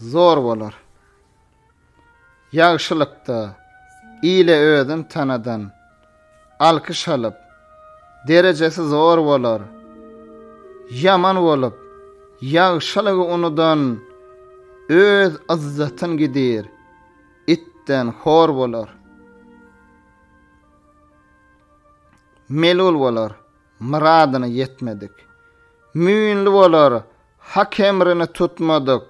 Zor bolar. Ýagşylykda ile özün tanadan alkyş alyp, derejesi zor bolar. Ýaman bolup, ýagşylygy unudan öz yzzatyn gidir. Itden hor bolar. melul bolar, myradyna ýetmedik. Müýnli bolar, hak emrini tutmadyk.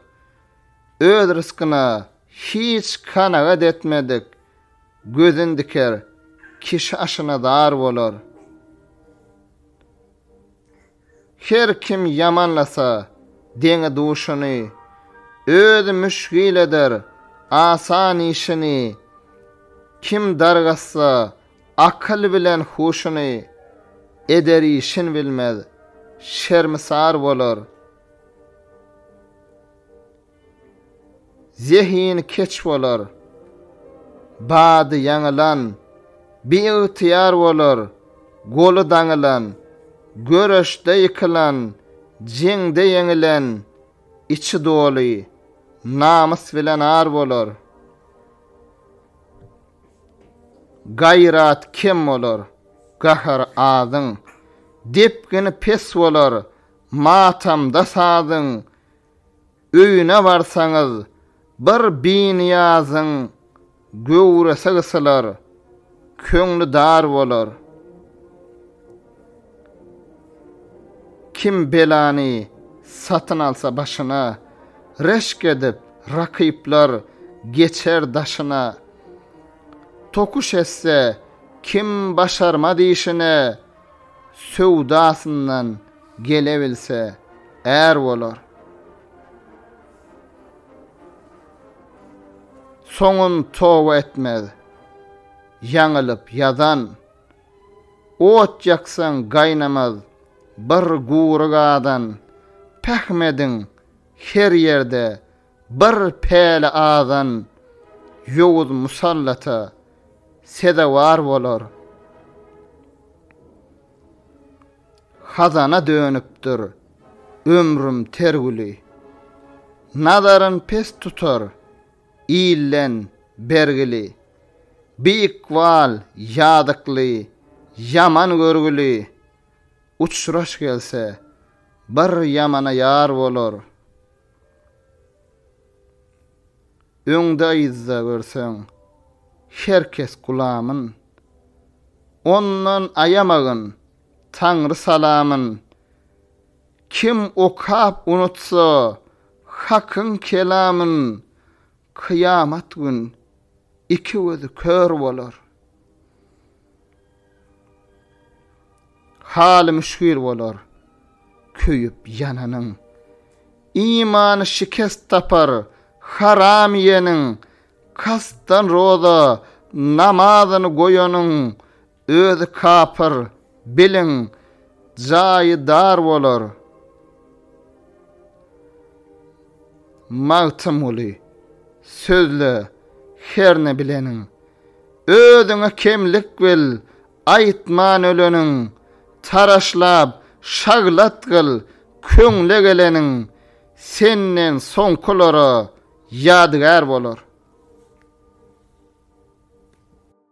Öz ryskyna hiç kanagat etmedik. Gözün diker, kişi aşyna zar bolar. Her kim ýamanlasa, deňi-duşuny, özi müşgil eder asan işini, Kim dargassa, akyl bilen huşuny, eder işin bilmez, şermisar bolar. Zehini keç bolar. Bady ýaňylan, biygtyýar bolar, goly daňylan, göreşde ýykylan, jeňde ýeňilen, içi doly, namys bilen ar bolar. Gaýrat kem bolar, gahar azyň, depgini pes bolar, matamda sazyň, öýüne barsaňyz, bir Biniýazyň göwresi gysylar, köňli dar bolar. Kim belany satyn alsa başyna, reşk edip, rakyplar geçer daşyna. Tokuş etse, kim başarmaz işine. söwdasyndan gelebilse är bolar. Soňun toba etmez. Ýaňylyp ýadan. Ot ýaksaň gaýnamaz bir gury gadan. Pähim ediň, her ýerde Bir päli azan ýowuz musallata sezewar bolar. Hazana dönüpdir ömrüm ter güli. Nazaryn pes tutar ilden bergili. Bi ykbal ýazykly, ýaman görgüli. Uçraş gelse, bir ýamana ýar bolar. Öňde-yzda görseň, her kes gulamyn. Ondan aýamagyn, Taňry salamyn. Kim okap unutsa, Hakyň kelamyn, Kyýamat gün iki gözi kör bolar. Haly müşgil bolar köýüp ýananyň. Imany şikes tapar haram iýeniň, kastdan roza namazyny goýanyň, Özi kapyr, biliň, jaýy dar bolar. Magtymguly, sözle, herne bileniň. Özüňe kemlik bil, aýtman öleniň. Taraşlap, şaglat gyl, köňle geleniň. Senden soňkulara ýadygär bolar.